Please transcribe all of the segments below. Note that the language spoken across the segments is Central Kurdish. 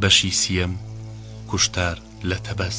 بەشی سییەم، کوشتار لە تەبەز.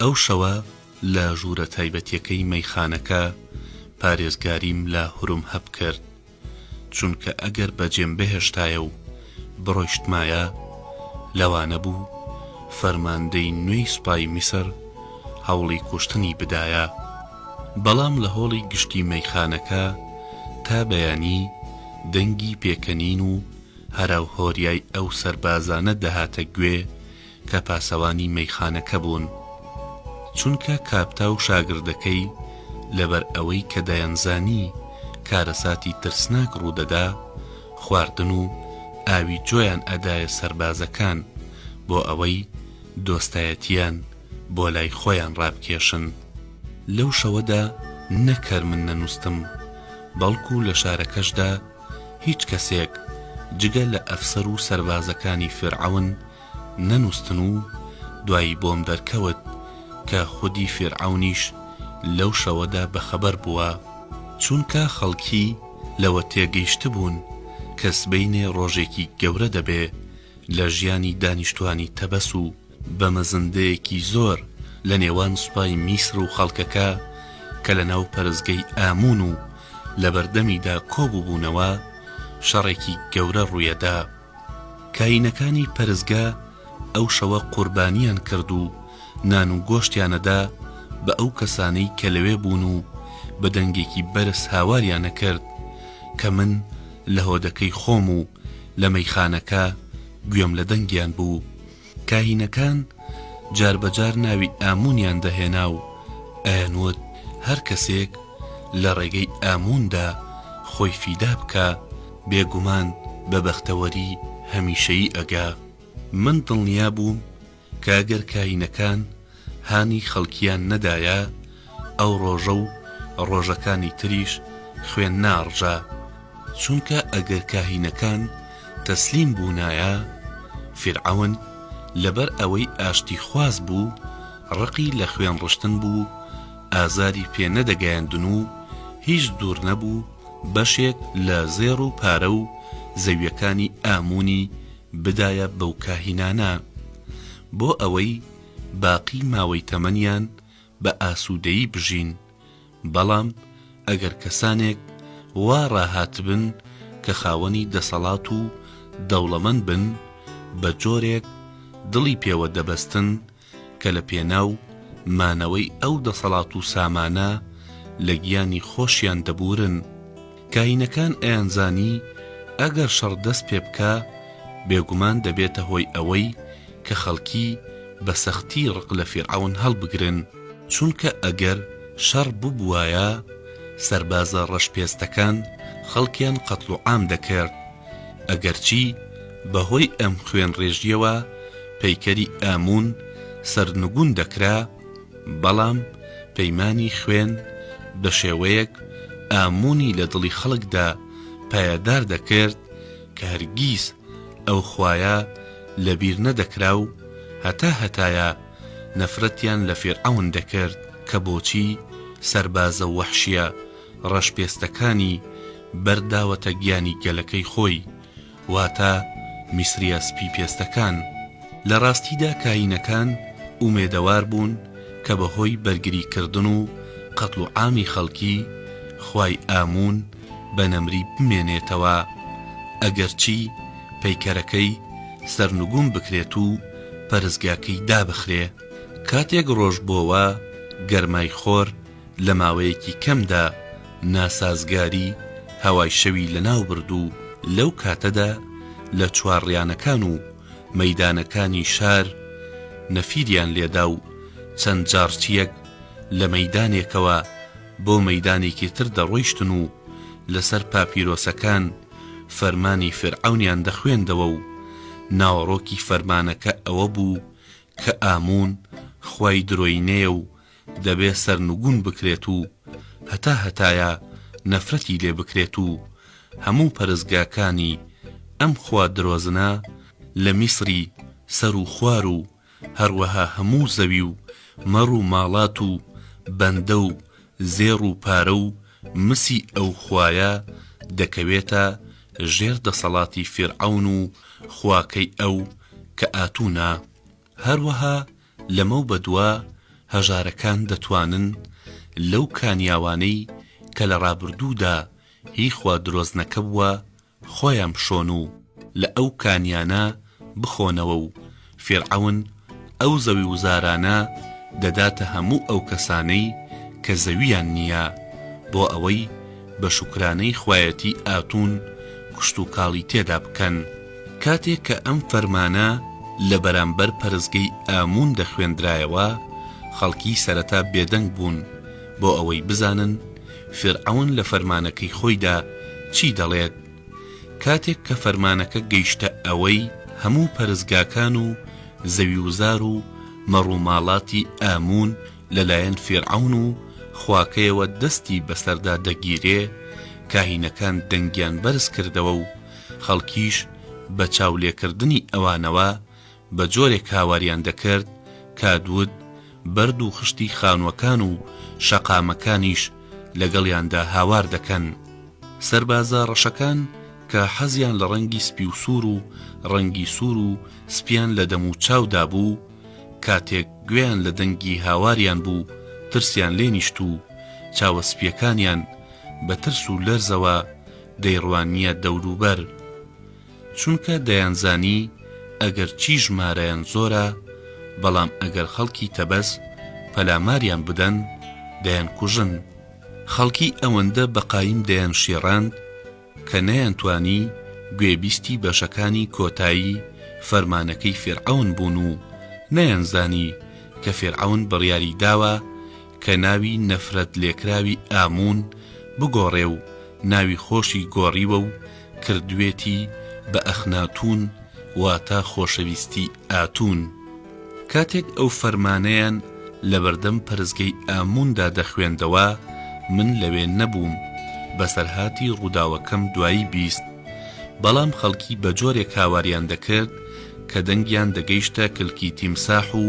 ئەو شەوە لە ژوورە تایبەتیەکەی مەیخانەکە پارێزگاریم لە هورمهەب کرد، چونکە ئەگەر بەجێم بهێشتایە و بڕۆیشتمایە، لەوانە بوو فەرماندەی نوێی سوپای میسر هەوڵی کوشتنی بدایە. بەڵام لە هۆڵی گشتی مەیخانەکە تا بەیانی دەنگی پێکەنین و هەراوهۆریای ئەو سەربازانە دەهاتە گوێ کە پاسەوانی مەیخانەکە بوون، چونکە کاپتا و شاگردەکەی لەبەر ئەوەی کە دەیانزانی کارەساتی ترسناک ڕوودەدا، خواردن و ئاوی جۆیان ئەدایە سەربازەکان بۆ ئەوەی دۆستایەتییان بۆ لای خۆیان ڕابکێشن. لەو شەوەدا نە کەر من نەنووستم، بەڵکو لە شارەکەشدا هیچ کەسێک جگە لە ئەفسەر و سەربازەکانی فیرعەون، نەنوستن و دوایی بۆم دەرکەوت کە خودی فیرعەونیش لەو شەوەدا بەخەبەر بووە، چونکە خەڵکی لەوە تێگەیشتبوون کە سبەینێ ڕۆژێکی گەورە دەبێ لە ژیانی دانیشتوانی تەبەس و بە مەزندەیەکی زۆر لە نێوان سوپای میسر و خەڵکەکە کە لە ناو پەرستگەی ئامون و لەبەردەمیدا کۆبووبوونەوە، شەڕێکی گەورە ڕوویەدا. کاینەکانی پەرستگا ئەو شەوە قوربانیان کرد و نان و گۆشتیانەدا بە ئەو کەسانەی کە لەوێ بوون و بە دەنگێکی بەرز هاواریان ئەکرد کە من لە هۆدەکەی خۆم و لە مەیخانەکە گوێم لە دەنگیان بوو کاهینەکان جار بە جار ناوی ئامونیان دەهێنا و ئەیانوت هەر کەسێک لە ڕێگەی ئاموندا خۆی فیدا بکا بێگومان بە بەختەوەری هەمیشەیی ئەگا. من دڵنیا بووم کە ئەگەر کاهینەکان هانی خەڵکیان نەدایە ئەو ڕۆژە و ڕۆژەکانی تریش خوێن ناڕژا، چونکە ئەگەر کاهینەکان تەسلیم بوونایە، فیرعەون لەبەر ئەوەی ئاشتیخواز بوو ڕقی لە خوێن ڕشتن بوو ئازاری پێ نەدەگەیاندن و هیچ دوور نەبوو بەشێک لە زێڕ و پارە و زەویەکانی ئاموونی بدایە بەو کاهینانە بۆ ئەوەی باقی ماوەی تەمەنیان بە ئاسوودەیی بژین، بەڵام ئەگەر کەسانێک وا ڕاهاتبن کە خاوەنی دەسەڵات و دەوڵەمەند بن، بە جۆرێک دڵی پێوە دەبەستن کە لە پێناو مانەوەی ئەو دەسەڵات و سامانە لە گیانی خۆشیان دەبوورن. کاهینەکان ئەیانزانی ئەگەر شەڕ دەست پێ بکا بێگومان دەبێتە هۆی ئەوەی کە خەڵکی بە سەختی ڕق لە فیرعەون هەڵبگرن، چونکە ئەگەر شەڕ ببوایە سەربازە ڕەش پێستەکان خەڵکیان قەتڵ و عام دەکرد، ئەگەرچی بە هۆی ئەم خوێن ڕێژیەوە پەیکەری ئامون سەرنگون دەکرا، بەڵام پەیمانی خوێن بە شێوەیەک ئاموونی لە دڵی خەڵکدا پایەدار دەکرد کە هەرگیز ئەو خوایە لە بیر نەدەکرا و هەتا هەتایە نەفرەتیان لە فیرعەون دەکرد کە بۆچی سەربازە وەحشییە ڕەشپێستەکانی بەر داوەتە گیانی گەلەکەی خۆی واتە میسرییە سپی پێستەکان، لە ڕاستیدا کاینەکان ئومێدەوار بوون کە بە هۆی بەرگری کردن و قەتڵ و عامی خەڵکی، خوای ئامون بە نەمری بمێنێتەوە، ئەگەرچی پەیکەرەکەی سەرنگوم بکرێت و پەرستگاکەی دابخرێ. کاتێک ڕۆژ بۆوە، گەرمای خۆر، لە ماوەیەکی کەمدا ناسازگاری هەوای شەوی لەناوبرد و لەو کاتەدا لە چوارڕیانەکان و مەیدانەکانی شار نەفیریان لێدا و چەند جاڕچییەک لە مەیدانێکەوە بۆ مەیدانێکی تر دەڕۆیشتن و لەسەر پاپیرۆسەکان فەرمانی فیرعەونیان دەخوێندەوە و ناوەڕۆکی فەرمانەکە ئەوە بوو کە ئامون خوای درۆینەیە و دەبێ سەرنگون بکرێت و هەتا هەتایە نەفرەتی لێ بکرێت و هەموو پەرستگاکانی ئەم خوا درۆزنە لە میسری سەر و خوار و هەروەها هەموو زەوی و مەڕ و ماڵات و بەندە و زێڕ و پارە و مسی ئەو خوایە دەکەوێتە ژێر دەسەڵاتی فیرعەون و خواکەی ئەو کە ئاتونا هەروەها لەمەو بەدوا هەژارەکان دەتوانن لەو کانیاوانەی کە لە ڕابردوودا هی خوا درۆزنەکە بووە خۆیان بشۆن و لە ئەو کانیانە بخۆنەوە و فیرعەون ئەو زەویوزارانە دەداتە هەموو ئەو کەسانەی کە زەوییان نییە بۆ ئەوەی بە شوکرانەی خوایەتی ئاتون کشتوکاڵی تێدا بکەن. کاتێک کە ئەم فەرمانە لە بەرامبەر پەرستگەی ئامون دەخوێندرایەوە، خەڵکی سەرەتا بێدەنگ بوون بۆ ئەوەی بزانن فیرعەون لە فەرمانەکەی خۆیدا چی دەڵێت. کاتێک کە فەرمانەکە گەیشتە ئەوەی هەموو پەرستگاکان و زەویوزار و مەڕوماڵاتی ئامون لەلایەن فیرعەون و خواکەیەوە دەستی بەسەردا دەگیرێ، کاهینەکان دەنگیان بەرز کردەوە و خەڵکیش بە چاولێکردنی ئەوانەوە بە جۆرێک هاواریان دەکرد کا دوود بەرد و خشتی خانووەکان و شەقامەکانیش لەگەڵیاندا هاوار دەکەن. سەربازە ڕەشەکان کە حەزیان لە ڕەنگی سپی و سوور و ڕەنگی سوور و سپییان لە دەم و چاودا بوو، کاتێک گوێیان لە دەنگی هاواریان بوو ترسیان لێ نیشت و چاوە سپییەکانیان بە ترس و لەرزەوە دەیڕوانییە دەوروبەر، چونکە دەیانزانی ئەگەر چی ژمارەیان زۆرە، بەڵام ئەگەر خەڵکی تەبەس پەلاماریان بدەن، دەیانکوژن. خەڵکی ئەوەندە بە قایم دەیانشێڕاند کە نەیانتوانی گوێبیستی بەشەکانی کۆتایی فەرمانەکەی فیرعەون بوون و نەیانزانی کە فیرعەون بڕیاری داوە، کە ناوی نەفرەت لێکراوی ئاموون بگۆڕێ و ناوی خۆشی گۆڕیوە و کردوێتی بە ئەخناتوون واتە خۆشەویستی ئاتوون. کاتێک ئەو فەرمانەیان لە بەردەم پەرستگەی ئامووندا دەخوێندەوە من لەوێ نەبووم، بەسەرهاتی ڕووداوەکەم دوایی بیست، بەڵام خەڵکی بە جۆرێک هاواریان دەکرد کە دەنگیان دەگەیشتە کلکی تیمساح و،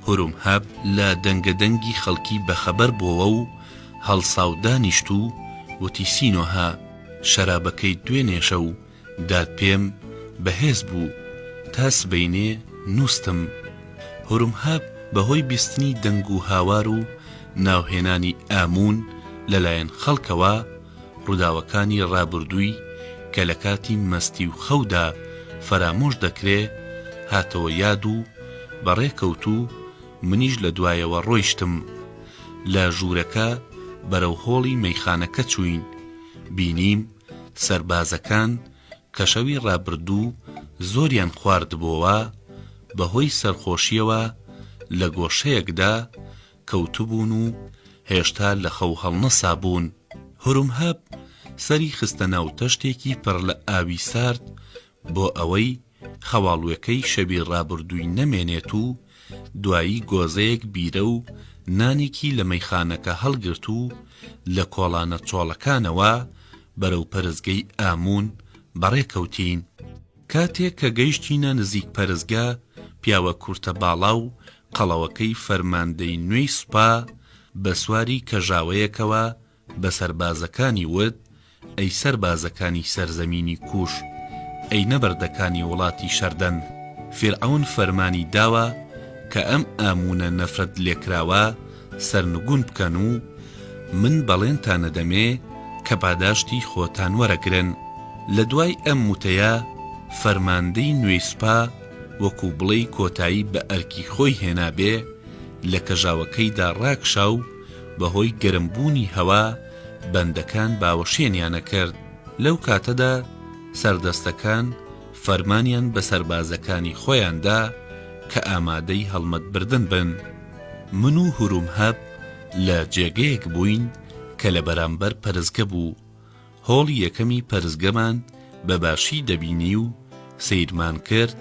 هروم هەب لە دەنگە دەنگی خەڵکی بەخەبەر بۆوە و هەڵسا و دانیشت و وتی سینۆهە شەرابەکەی دوێنێ شەو دات پێم بەهێز بوو تا سبەینێ نووستم هروم هەب بە هۆی بیستنی دەنگ و هاوار و ناوهێنانی ئاموون لە لایەن خەڵکەوە ڕووداوەکانی ڕابوردووی کە لە کاتی مەستی و خەودا فەرامۆش دەکرێ هاتەوە یاد و بەڕێ کەوت و منیش لە دوایەوە ڕۆیشتم. لە ژوورەکە بەرەو هۆڵی مەیخانەکە چووین. بینیم سەربازەکان کە شەوی ڕابردوو زۆریان خواردبۆوە، بە هۆی سەرخۆشییەوە لە گۆشەیەکدا کەوتبوون و هێشتا لە خەو هەڵنەسابوون، هورمهەب سەری خستە ناو تەشتێکی پڕ لە ئاوی سارد بۆ ئەوەی خەواڵوێکەی شەوی ڕابردووی نەمێنێت و دوایی گۆزەیەک بیرە و نانێکی لە مەیخانەکە هەڵگرت و لە کۆڵانە چۆڵەکانەوە بەرەو پەرستگەی ئاموون بەڕێکەوتین. کاتێک کە گەیشتینە نزیک پەرستگە، پیاوە کورتە باڵا و قەڵەوەکەی فەرماندەی نوێی سوپا، بە سواری کەژاوەیەکەوە بە سەربازەکانی وت، ئەی سەربازەکانی سەرزەمینی کووش، ئەی نەبەردەکانی وڵاتی شەردەن، فیرعەون فەرمانی داوە کە ئەم ئاموونە نەفرەتلێکراوە، سەرنگون بکەن و من بەڵێنتان ئەدەمێ کە پاداشتی خۆتان وەرەگرن. لە دوای ئەم وتەیە فەرماندەی نوێی سوپا وەکو بڵێی کۆتایی بە ئەرکی خۆی هێنابێ لە کەژاوەکەیدا ڕاکشا و بە هۆی گەرم بوونی هەوا بەندەکان باوەشێنیانە کرد لەو کاتەدا سەردەستەکان فەرمانیان بە سەربازەکانی خۆیان دا کە ئامادەی هەڵمەت بردن بن. من و هورومهەب لە جێگەیەک بووین کە لە بەرامبەر پەرسگە بوو. هۆڵی یەکەمی پەرسگەمان بە باشی دەبینی و سەیرمان کرد،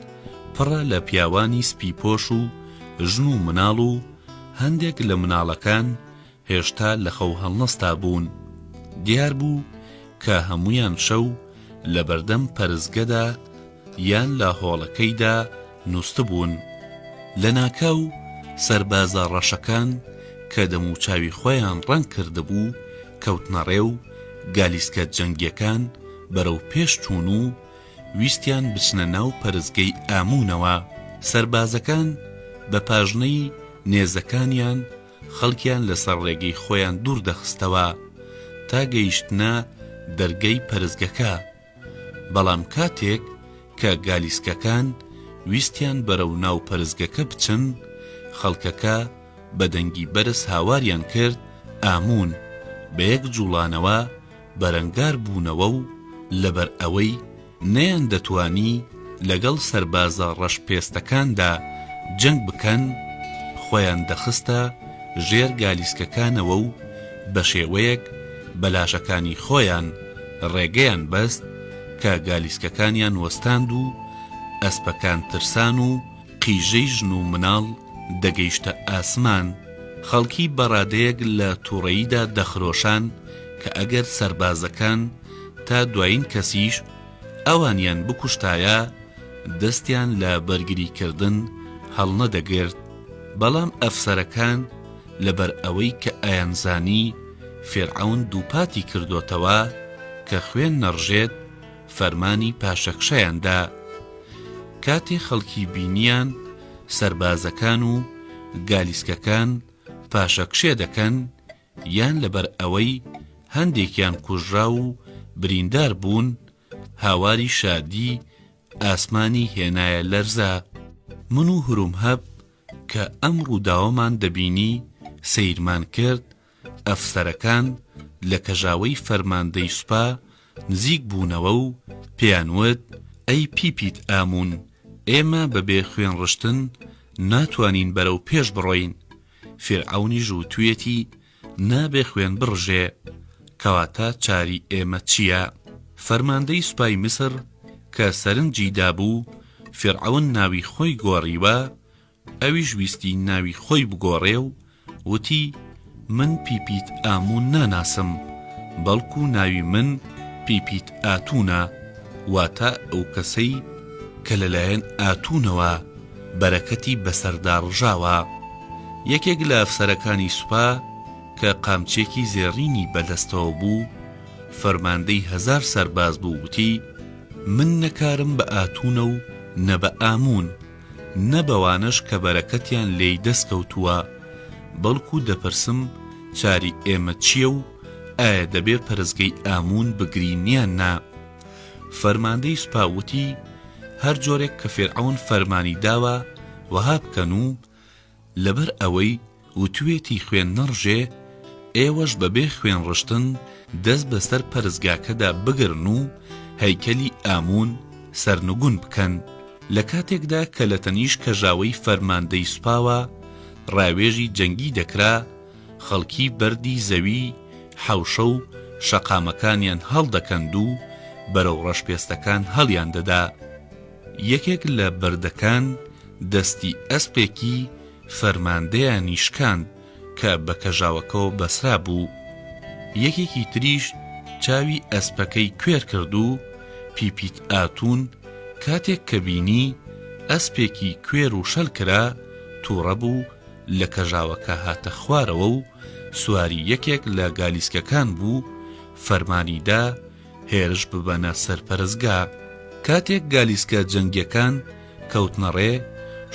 پڕە لە پیاوانی سپیپۆش و ژن و مناڵ و هەندێک لە مناڵەکان هێشتا لە خەو هەڵنەستابوون، دیار بوو کە هەموویان شەو لە بەردەم پەرستگەدا یان لە هۆڵەکەیدا نووستبوون. لە ناکاو سەربازە ڕەشەکان کە دەموچاوی خۆیان ڕەنگ کردبوو کەوتنە ڕێ و گالیسکە جەنگییەکان بەرەو پێش چوون و ویستیان بچنە ناو پەرستگەی ئاموونەوە. سەربازەکان بە پاژنەی نێزەکانیان، خەڵکیان لەسەر ڕێگەی خۆیان دوور دەخستەوە تا گەیشتنە دەرگەی پەرستگەکە، بەڵام کاتێک کە گالیسکەکان ویستیان بەرەو ناو پەرستگەکە بچن، خەڵکەکە بە دەنگی بەرز هاواریان کرد، ئاموون، بەیەک جوڵانەوە بەرەنگار بوونەوە و لەبەر ئەوەی نەیاندەتوانی لەگەڵ سەربازە ڕەش پێستەکاندا جەنگ بکەن خۆیان دەخستە ژێر گالیسکەکانەوە و بەشێوەیەک بە لاشەکانی خۆیان ڕێگەیان بەست کە گالیسکەکانیان وەستاند و ئەسپەکان ترسان و قیژەی ژن و مناڵ دەگەیشتە ئاسمان خەڵکی بەڕادەیەک لە توڕەییدا دەخرۆشان کە ئەگەر سەربازەکان تا دوایین کەسیش ئەوانیان بکوشتایە دەستیان لە بەرگری کردن هەڵنەدەگرت، بەڵام ئەفسەرەکان لەبەر ئەوەی کە ئەیانزانی فیرعەون دووپاتی کردۆتەوە کە خوێن نەڕژێت فەرمانی پاشەکشەیان دا. کاتێ خەڵکی بینیان سەربازەکان و گالیسکەکان پاشەکشێ دەکەن، یان لەبەر ئەوەی هەندێکیان کوژراو و بریندار بوون، هاواری شادی ئاسمانی هێنایە لەرزە. من و هرومهەب کە ئەم ڕووداوەمان دەبینی، سەیرمان کرد، ئەفسەرەکان لە کەژاوەی فەرماندەی سوپا نزیک بوونەوە و پێیان وت، ئەی پی پیت ئامون، ئێمە بەبێ خوێن ڕشتن ناتوانین بەرەو پێش بڕۆین، فیرعەونیش وتویەتی، نابێ خوێن بڕژێ، کەواتە چاری ئێمە چییە؟ فەرماندەی سوپای میسر کە سەرنجی دابوو فیرعەون ناوی خۆی گۆڕیوە، ئەویش ویستی ناوی خۆی بگۆڕێ و وتی، من پیپیت ئامون ناناسم، بەڵکو ناوی من پیپیت ئاتونە، واتە ئەو کەسەی کە لەلایەن ئاتونەوە بەرەکەتی بەسەردا ڕژاوە. یەکێک لە ئەفسەرەکانی سوپا کە قامچێکی زێڕینی بەدەستەوە بوو، فەرماندەی هەزار سەرباز بوو وتی، من نە کارم بە ئاتوونە و نە بە ئاموون، نە بەوانەش کە بەرەکەتیان لێی دەست کەوتووە، بەڵکوو دەپرسم چاری ئێمە چییە و ئایا دەبێ پەرستگەی ئاموون بگرین یان نا؟ فەرماندەی سوپا وتی، هەر جۆرێک کە فیرعەون فەرمانی داوە وەها بکەن و لەبەر ئەوەی وتویەتی خوێن نەڕژێ، ئێوەش بە بێ خوێن ڕشتن دەست بە سەر پەرستگاکەدا بگرن و هەیکەلی ئامون سەرنگون بکەن. لە کاتێکدا کە لە تەنیشت کەژاوەی فەرماندەی سوپاوە ڕاوێژی جەنگی دەکرا، خەڵکی بەردی زەوی حەوشە و شەقامەکانیان هەڵدەکەند و بەرەو ڕەشپێستەکان هەڵیاندەدا. یەکێک لە بەردەکان دەستی ئەسپێکی فەرماندەیانی شکاند کە بە کەژاوەکەوە بەسرابوو. یەکێکی تریش چاوی ئەسپەکەی کوێر کرد و پیپیت ئاتون کاتێک کە بینی ئەسپێکی کوێر و شەل کرا، تووڕە بوو، لە کەژاوەکە هاتە خوارەوە و سواری یەکێک لە گالیسکەکان بوو فەرمانی دا هێرش ببەنە سەر پەرستگا کاتێک گالیسکە جەنگیەکان کەوتنەڕێ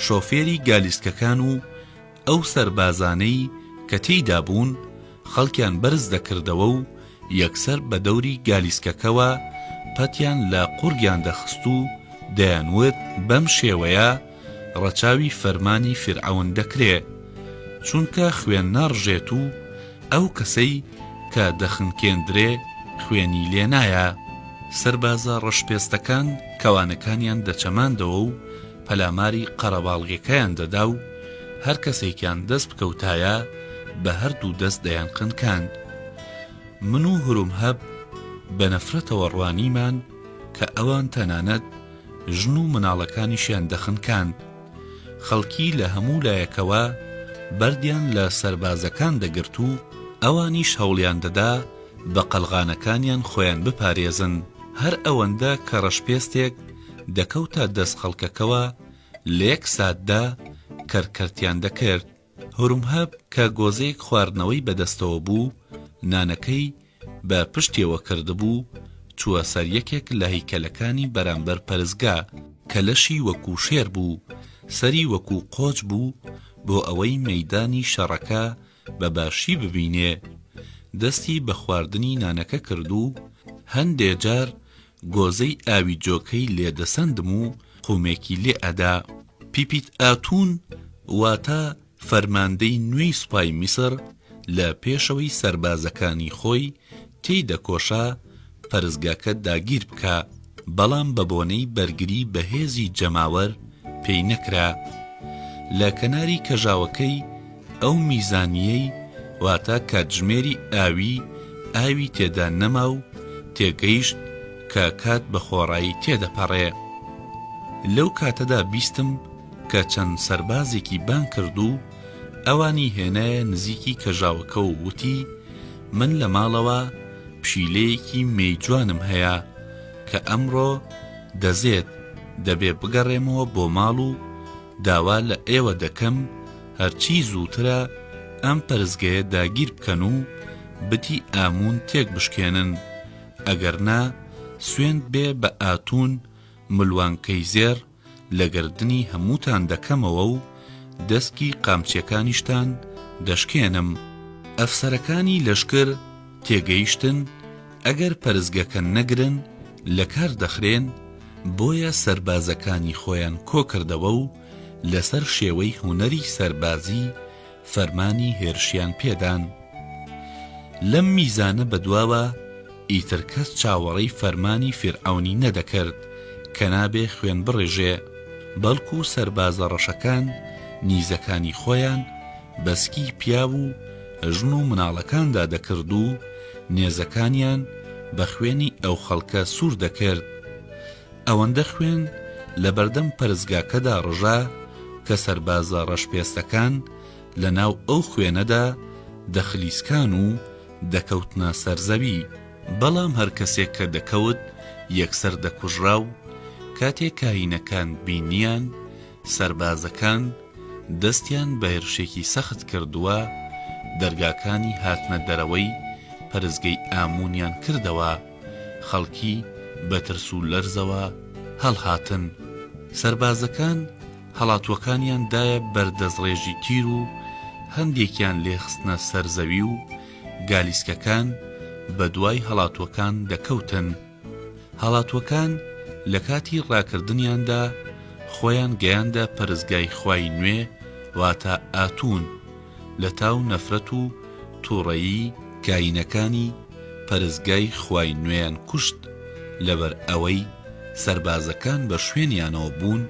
شۆفێری گالیسکەکان و ئەو سەربازانەی کە تێیدا بوون خەڵکیان بەرز دەکردەوە و یەکسەر بە دەوری گالیسکەکەوە پەتیان لە قوڕگیان دەخست و دەیانوت بەم شێوەیە ڕەچاوی فەرمانی فیرعەون دەکرێ چونکە خوێن ناڕژێت و ئەو کەسەی کە دەخنکێندرێ خوێنی لێ نایە. سەربازە ڕەشپێستەکان کەوانەکانیان دەچەماندەوە و پەلاماری قەرەباڵغیەکەیان دەدا و هەر کەسێکیان دەست بکەوتایە بە هەردوو دەست دەیانخنکاند. من و هورمهەب بە نەفرەتەوە ڕوانیمان کە ئەوان تەنانەت ژن و مناڵەکانیشیان دەخنکاند. خەڵکی لە هەموو لایەکەوە بەردیان لە سەربازەکان دەگرت و ئەوانیش هەوڵیان دەدا بە قەلغانەکانیان خۆیان بپارێزن. هەر ئەوەندە کە ڕەشپێستێک دەکەوتە دەست خەڵکەکەوە لە یەک ساتدا کەرکەرتیان دەکرد. هورمهب کە گۆزەیەک خواردنەوەی بە دەستەوە بوو، نانەکەی بە پشتیەوە کردبوو، چووە سەر یەکێک لە هەیکەلەکانی بەرامبەر پەرستگا، کە لەشی وەکوو شێر بوو، سەری وەکوو قۆچ بوو، بۆ ئەوەی مەیدانی شەڕەکە بە باشی ببینێ، دەستی بە خواردنی نانەکە کرد و هەندێ جار گۆزەی ئاوی جۆکەی لێ دەسەندم و قومێکی لێ ئەدا. پیپیت ئاتون واتە فەرماندەی نوێی سوپای میسر لە پێشەوەی سەربازەکانی خۆی تێی دەکۆشا پەرستگاکە داگیر بکا، بەڵام بە بۆنەی بەرگری بەهێزی جەماوەر پێی نەکرا. لە کەناری کەژاوەکەی، ئەو میزانییەی واتە کاتژمێری ئاوی ئاوی تێدا نەما و تێگەیشت کە کات بە خۆڕایی تێدەپەڕێ. لەو کاتەدا بیستم کە چەند سەربازێکی بانگ کرد و ئەوانی هێنایە نزیکی کەژاوەکە و وتی، من لە ماڵەوە پشیلەیەکی مێی جوانم هەیە کە ئەمڕۆ دەزێت، دەبێ بگەڕێمەوە بۆ ماڵ و داوا لە ئێوە دەکەم هەرچی زووترە ئەم پەرستگەیە داگیر بکەن و بتی ئاموون تێک بشکێنن، ئەگەر نا سوێند بێ بە ئاتوون ملوانکەی زێڕ لە گەردنی هەمووتان دەکەمەوە و دەسکی قامچیەکانیشتان دەشکێنم. ئەفسەرەکانی لەشکر تێگەیشتن ئەگەر پەرستگەکە نەگرن لەکار دەخرێن، بۆیە سەربازەکانی خۆیان کۆکردەوە و لەسەر شێوەی هونەری سەربازی فەرمانی هێرشیان پێدان. لەم میزانە بەدواوە ئیتر کەس چاوەڕێی فەرمانی فیرعەونی نەدەکرد کە نابێ خوێن بڕێژێ، بەڵکو سەربازە ڕەشەکان نیزەکانی خۆیان بە سکی پیاو و، ژن و مناڵەکاندا دەکرد و نێزەکانیان بە خوێنی ئەو خەڵکە سوور دەکرد. ئەوەندە خوێن لە بەردەم پەرستگاکەدا ڕژا کە سەربازە ڕەشپێستەکان لە ناو ئەو خوێنەدا دەخلیسکان و دەکەوتنە سەر زەوی. بەڵام هەر کەسێک کە دەکەوت یەکسەر دەکوژرا و کاتێ کاهینەکان بینیان سەربازەکان دەستیان بە هێرشێکی سەخت کردووە، دەرگاکانی هاتنە دەرەوەی پەرستگەی ئاموونیان کردەوە، خەڵکی بە ترس و لەرزەوە هەڵهاتن، سەربازەکان هەڵاتووەکانیان دایە بەر دەستڕێژی تیر و هەندێکیان لێ خستنە سەر زەوی و گالیسکەکان بە دوای هەڵاتووەکان دەکەوتن. هەڵاتووەکان لە کاتی ڕاکردنیاندا خۆیان گەیاندە پەرستگای خوای نوێ واتە ئاتون لە تاو نەفرەت و توڕەیی کاینەکانی پەرستگای خوای نوێیان کوشت لەبەر ئەوەی سەربازەکان بە شوێنیانەوە بوون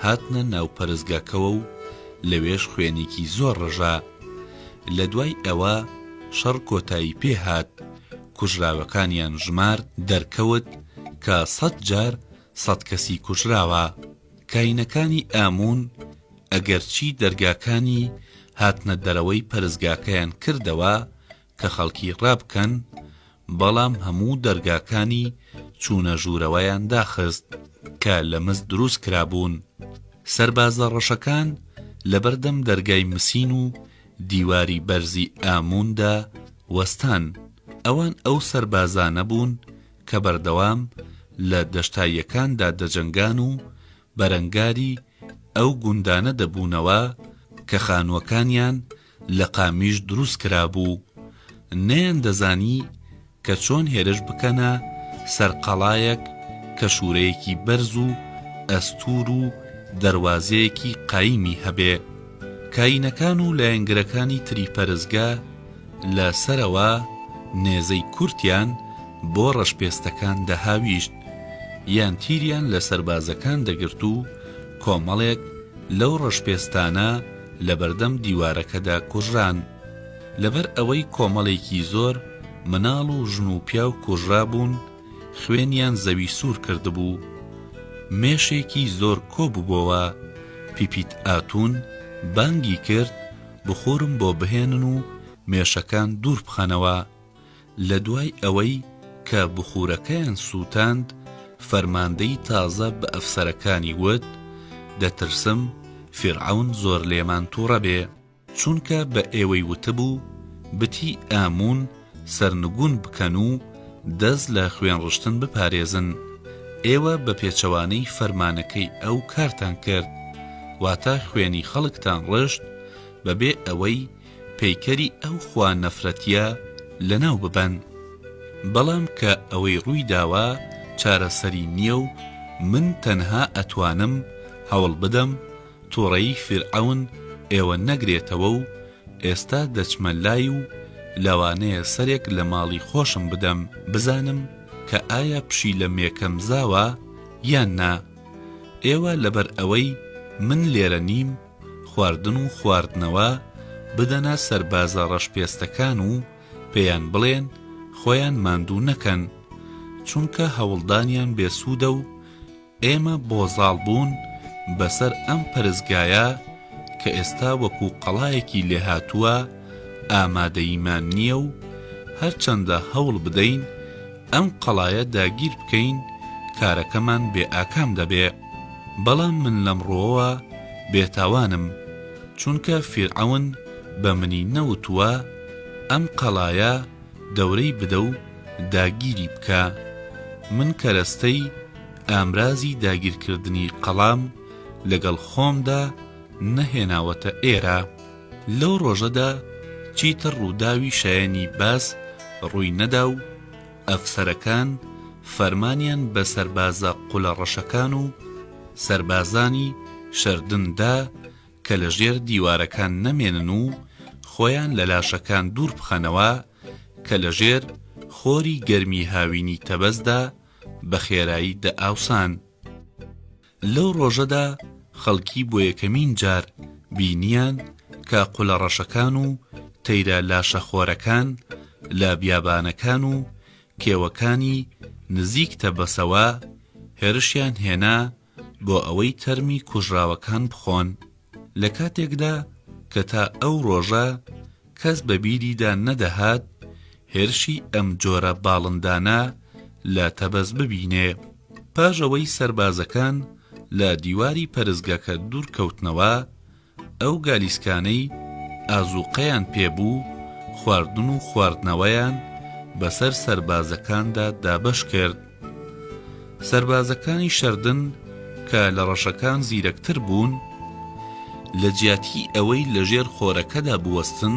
هاتنە ناو پەرستگاکەوە و لەوێش خوێنیکی زۆر ڕژا لە دوای ئەوە شەڕ کۆتایی پێ هات کوژراوەکانیان ژمارد دەرکەوت کە سەد جار سەد کەسی کوژراوە کاینەکانی ئامون ئەگەرچی دەرگاکانی هاتنە دەرەوەی پەرزگاکەیان کردەوە کە خەڵکی ڕابکەن بەڵام هەموو دەرگاکانی چوونە ژوورەوەیان داخست کە لە مس دروست کرابوون سەربازە ڕەشەکان لەبەردەم دەرگای مسین و دیواری بەرزی ئامووندا وەستان، ئەوان ئەو سەربازانە بوون کە بەردەوام لە دەشتاییەکاندا دەجەنگان و بەرەنگاری ئەو گوندانە دەبوونەوە کە خانووەکانیان لە قامیش دروست کرابوو، نەیاندەزانی کە چۆن هێرش بکەنە سەر قەڵایەک کە شوورەیەکی بەرز و ئەستوور و دەروازەیەکی قایمی هەبێ. کایینەکان و لایەنگرەکانی تری پەرستگە لە سەرەوە نێزەی کورتیان بۆ ڕەشپێستەکان دەهاویشت یان تیریان لە سەربازەکان دەگرت و کۆمەڵێک لەو ڕەشپێستانە لە بەردەم دیوارەکەدا کوژران. لەبەر ئەوەی کۆمەڵێکی زۆر مناڵ و ژن و پیاو کوژرابوون خوێنیان زەوی سوور کردبوو مێشێکی زۆر کۆ ببۆوە پیپیت ئاتون بانگی کرد بخورم بۆ بهێنن و مێشەکان دوور بخەنەوە لە دوای ئەوەی کە بخورەکەیان سووتاند فەرماندەی تازە بە ئەفسەرەکانی وت دەترسم فیرعەون زۆر لێمان توڕە بێ. چونکە بە ئێوەی وتبوو، بتی ئاموون، سەرنگوون بکەن و دەست لە خوێنڕشتن بپارێزن، ئێوە بە پێچەوانەی فەرمانەکەی ئەو کارتان کرد، واتە خوێنی خەڵکتان ڕشت بەبێ ئەوەی پەیکەری ئەو خوا نەفرەتیە لەناو ببەن، بەڵام کە ئەوەی ڕووی داوە چارەسەری نیە و من تەنها ئەتوانم هەوڵ بدەم، توڕەیی فیرعەون ئێوە نەگرێتەوە و ئێستا دەچمە لای و لەوانەیە سەرێک لە ماڵی خۆشم بدەم بزانم کە ئایا پشیلە مێکەم زاوە یان نا ئێوە لەبەر ئەوەی من لێرە نیم خواردن و خواردنەوە بدەنە سەربازە ڕەشپێستەکان و پێیان بڵێن خۆیان ماندوو نەکەن چونکە هەوڵدانیان بێسوودە و ئێمە بۆ زاڵ بوون بەسەر ئەم پەرستگایە کە ئێستا وەکو قەڵایەکی لێهاتووە ئامادەییمان نییە و هەرچەندە هەوڵ بدەین ئەم قەڵایە داگیر بکەین کارەکەمان بێ ئاکام دەبێ بەڵام من لەم ڕۆوە بێتاوانم چونکە فیرعەون بە منی نەوتووە ئەم قەڵایە دەورەی بدە و داگیری بکە من کەرەستەی ئامرازی داگیرکردنی قەڵام لەگەڵ خۆمدا نەهێناوەتە ئێرە لەو ڕۆژەدا چیتر ڕووداوی شایەنی باس ڕووی نەدا و ئەفسەرەکان فەرمانیان بە سەربازە قولە ڕەشەکان و سەربازانی شەردن دا کە لە ژێر دیوارەکان نەمێنن و خۆیان لە لاشەکان دوور بخەنەوە کە لە ژێر خۆری گەرمی هاوینی تەبەزدا بە خێرایی دەئاوسان. لەو ڕۆژەدا خەڵکی بۆ یەکەمین جار بینییان کە قولەڕەشەکان و تەیرە لاشەخۆرەکان لە بیابانەکان و کێوەکانی نزیک تەبەسەوە هێرشیان هێنا بۆ ئەوەی تەرمی کوژراوەکان بخۆن، لە کاتێکدا کە تا ئەو ڕۆژە کەس بە بیریدا نەدەهات هێرشی ئەم جۆرە باڵندانە لە تەبەز ببینێ. پاش ئەوەی سەربازەکان لە دیواری پەرستگەکە دوورکەوتنەوە، ئەو گالیسکانەی ئازووقەیان پێ بوو، خواردن و خواردنەوەیان بەسەر سەربازەکاندا دابەش کرد. سەربازەکانی شەردن کە لە ڕەشەکان زیرەکتر بوون، لە جیاتی ئەوەی لەژێر خۆرەکەدا بوەستن،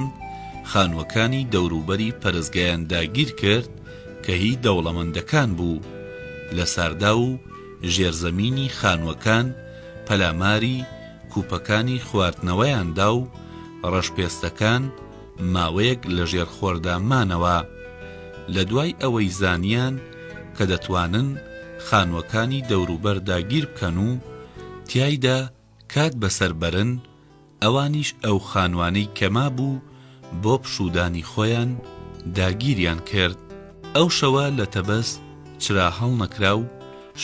خانووەکانی دەوروبەری پەرستگەیان داگیر کرد کە هی دەوڵەمەندەکان بوو. لە ساردا و ژێرزەمینی خانووەکان پەلاماری، کوپەکانی خواردنەوەیان دا و ڕەشپێستەکان ماوەیەک لە ژێر خۆردا مانەوە لە دوای ئەوەی زانیان کە دەتوانن خانووەکانی دەوروبەر داگیر بکەن و تیایدا کات بەسەر بەرن ئەوانیش ئەو خانوانەی کە مابوو بۆ پشوودانی خۆیان داگیریان کرد ئەو شەوە لە تەبەس چرا هەڵنەکرا و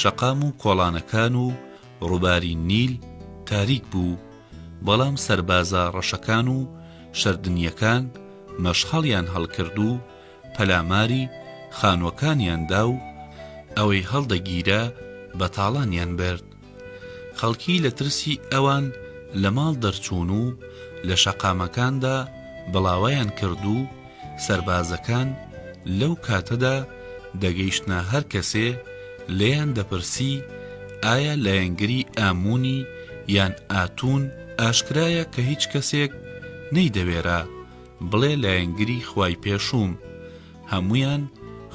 شەقام و کۆڵانەکان و ڕووباری نیل تاریک بوو، بەڵام سەربازە ڕەشەکان و شەردنییەکان مەشخەڵیان هەڵکرد و پەلاماری خانووەکانیان دا و ئەوەی هەڵدەگیرا بە تاڵانیان برد. خەڵکی لە ترسی ئەوان لە ماڵ دەرچوون و لە شەقامەکاندا بڵاوەیان کرد و سەربازەکان لەو کاتەدا دەگەیشتنە هەر کەسێ لێیان دەپرسی ئایا لایەنگری ئاموونی یان ئاتوون ئاشکرایە کە هیچ کەسێک نەیدەوێرا بڵێ لایەنگری خوای پێشووم هەموویان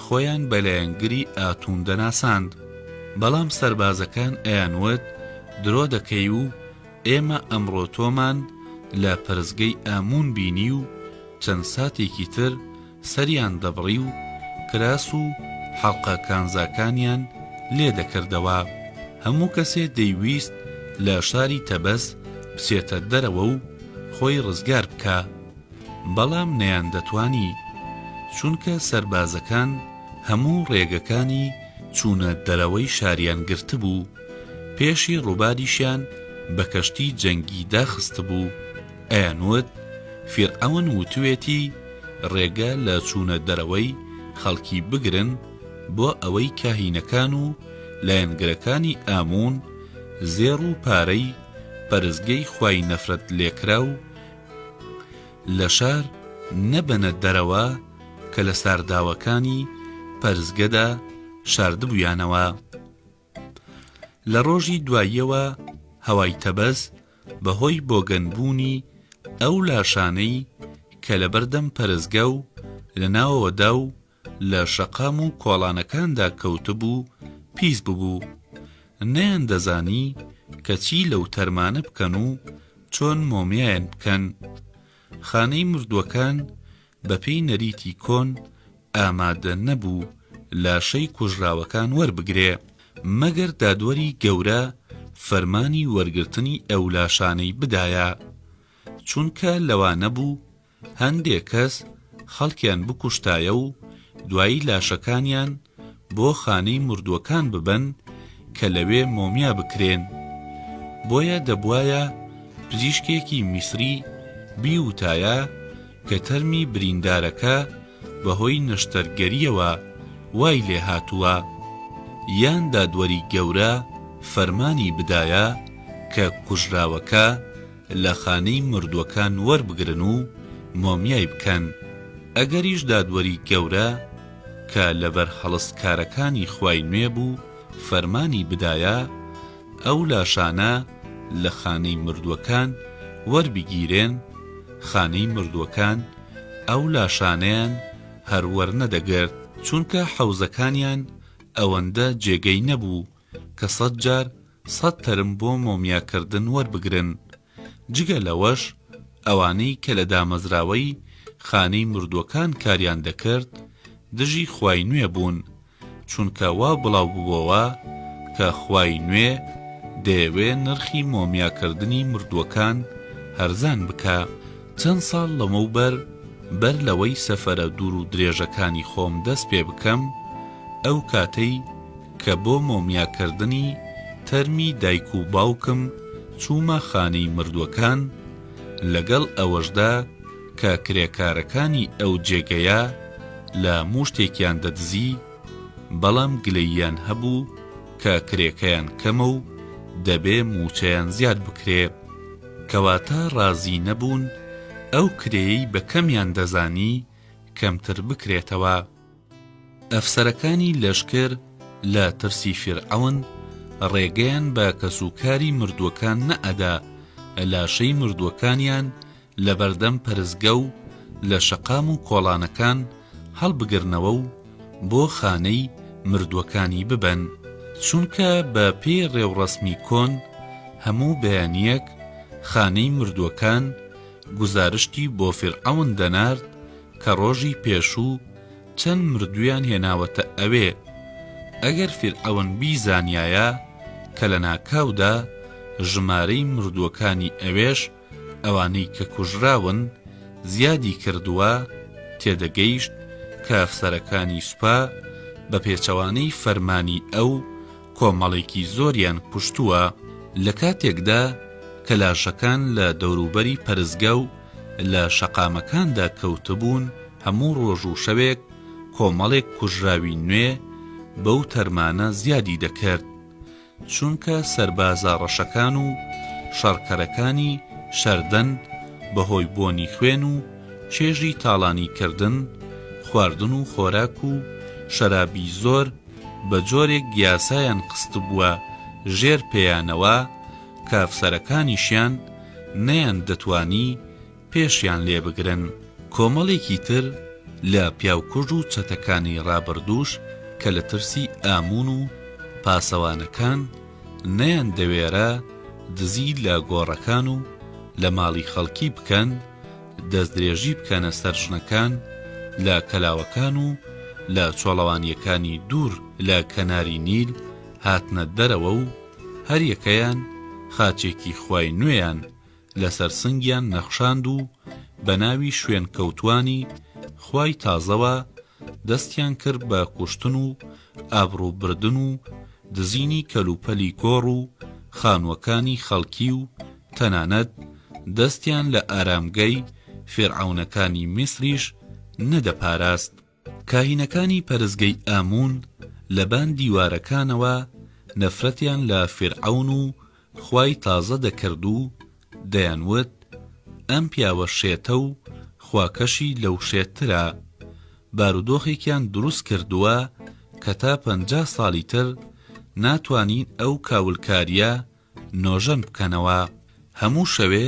خۆیان بە لایەنگری ئاتوون دەناساند بەڵام سەربازەکان ئەیانوت درۆ دەکەی و ئێمە ئەمڕۆ تۆمان لە پەرستگەی ئاموون بینی و چەند ساتێکی تر سەریان دەبڕی و کراس و حەڵقە کانزاکانیان لێ دەکردەوە، هەموو کەسێ دەیویست لە شاری تەبەس بچێتە دەرەوە و خۆی ڕزگار بکا، بەڵام نەیاندەتوانی، چونکە سەربازەکان هەموو ڕێگەکانی چوونە دەرەوەی شاریان گرتبوو. پێشی ڕوبادیشیان بە کەشتی جەنگی داخستبوو ئەیانوت فیرعەون وتوێتی ڕێگە لە چوونە دەرەوەی خەڵکی بگرن بۆ ئەوەی کاهینەکان و لایەنگرەکانی ئامون زێڕ و پارەی پەرستگەی خوای نەفرەت لێکراو لە شار نەبەنە دەرەوە کە لە سارداوەکانی پەرستگەدا شاردبوویانەوە. لە ڕۆژی دواییەوە هەوای تەبەز بەهۆی بۆگەن بوونی ئەو لاشانەی کە لە بەردەم پەرستگە و لە ناوەوەدا و لە شەقام و کۆڵانەکاندا کەوتبوو پیس ببوو نەیان دەزانی کە چی لەو تەرمانە بکەن و چۆن مۆمیایان بکەن خانەی مردووەکان بەپێی نەریتی کۆن ئامادە نەبوو لاشەی کوژراوەکان وەربگرێ، مەگەر دادوەری گەورە فەرمانی وەرگرتنی ئەو لاشانەی بدایە، چونکە لەوا نەبوو هەندێ کەس خەڵکیان بکوشتایە و دوایی لاشەکانیان بۆ خانەی مردووەکان ببەن کە لەوێ مۆمیا بکرێن، بۆیە دەبوایە پزیشکێکی میسری بیوتایە کە تەرمی بریندارەکە بەهۆی نەشتەرگەرییەوە وای لێهاتووە، یان دادوەری گەورە فەرمانی بدایە کە کوژراوەکە لە خانەی مردووەکان وەربگرن و مۆمیای بکەن، ئەگەریش دادوەری گەورە کە لەبەر هەڵستکارەکانی خوای نوێ بوو فەرمانی بدایە ئەو لاشانە لە خانەی مردووەکان وەربگیرێن، خانەی مردووەکان ئەو لاشانەیان هەر وەرنەدەگرت، چونکە حەوزەکانیان ئەوەندە جێگەی نەبوو، کە سەد جار سەد تەرم بۆ مۆمیاکردن وەربگرن، جگە لەوەش ئەوانەی کە لە دامەزراوەی خانەی مردووەکان کاریان دەکرد دژی خوای نوێ بوون، چونکە وا بڵاوببۆوە کە خوای نوێ دەیەوێ نرخی مۆمیاکردنی مردووەکان هەرزان بکا. چەند ساڵ لەمەوبەر بەر لەوەی سەفەرە دوور و درێژەکانی خۆم دەست پێ بکەم ئەو کاتەی، کە بۆ مۆمیاکردنی تەرمی دایک و باوکم چوومە خانەی مردووەکان، لەگەڵ ئەوەشدا کە کرێکارەکانی ئەو جێگەیە لە مووشتێکیان دەدزی، بەڵام گلەییان هەبوو کە کرێکەیان کەمە و دەبێ مووچەیان زیاد بکرێ، کەواتە ڕازی نەبوون ئەو کرێیەی بە کەمیان دەزانی کەمتر بکرێتەوە. ئەفسەرەکانی لەشکر لە ترسی فیرعەون ڕێگەیان بە کەسوکاری مردووەکان نەئەدا لاشەی مردووەکانیان لەبەردەم پەرستگە و لە شەقام و کۆڵانەکان هەڵبگرنەوە و بۆ خانەی مردووەکانی ببەن چونکە بە پێی ڕێوڕەسمی کۆن هەموو بەیانیەک خانەی مردووەکان گوزارشتی بۆ فیرعەون دەنارد کە ڕۆژی پێشوو چەند مردویان هێناوەتە ئەوێ ئەگەر فیرعەون بیزانیایە کە لە ناکاودا ژمارەی مردووەکانی ئەوێش ئەوانەی کە کوژراون زیادی کردووە تێدەگەیشت کە ئەفسەرەکانی سوپا بە پێچەوانەی فەرمانی ئەو کۆمەڵێکی زۆریان کوشتووە، لە کاتێکدا کە لاشەکان لە دەوروبەری پەرستگە و لە شەقامەکاندا کەوتبوون، هەموو ڕۆژ و شەوێک کۆمەڵێک کوژراوی نوێ بەو تەرمانە زیادی دەکرد، چونکە سەربازە ڕەشەکان و شەڕکەرەکانی شەردەن بەهۆی بۆنی خوێن و چێژی تاڵانیکردن، خواردن و خۆراک و شەرابی زۆر، بەجۆرێک یاسایان خستبووە ژێر پێیانەوە کە ئەفسەرەکانیشیان نەیاندەتوانی پێشیان لێبگرن. کۆمەڵێکی تر لە پیاوکوژ و چەتەکانی ڕابردووش کە لە ترسی ئاموون و پاسەوانەکان نەیاندەوێرا دزی لە گۆڕەکان و لە ماڵی خەڵکی بکەن، دەستدرێژی بکەنە سەر ژنەکان لە کەلاوەکان و لە چۆڵەوانییەکانی دوور لە کەناری نیل هاتنە دەرەوە و هەریەکەیان خاچێکی خوای نوێیان لەسەر سنگیان نەخشاند و بەناوی شوێنکەوتوانی خوای تازەوە دەستیان کرد بە کوشتن و ئابڕوو بردن و دزینی کەلوپەلی گۆڕ و خانووەکانی خەڵکی و تەنانەت دەستیان لە ئارامگەی فیرعەونەکانی میسریش نەدەپاراست. کاهینەکانی پەرستگەی ئامون لەبان دیوارەکانەوە نەفرەتیان لە فیرعەون و خوای تازە دەکرد و دەیان وت ئەم پیاوە شێتە و خواکەشی لەو شێتترە بارودۆخێکیان دروست کردووە کە تا پەنجا ساڵی تر ناتوانین ئەو کاولکاریە نۆژەن بکەنەوە هەموو شەوێ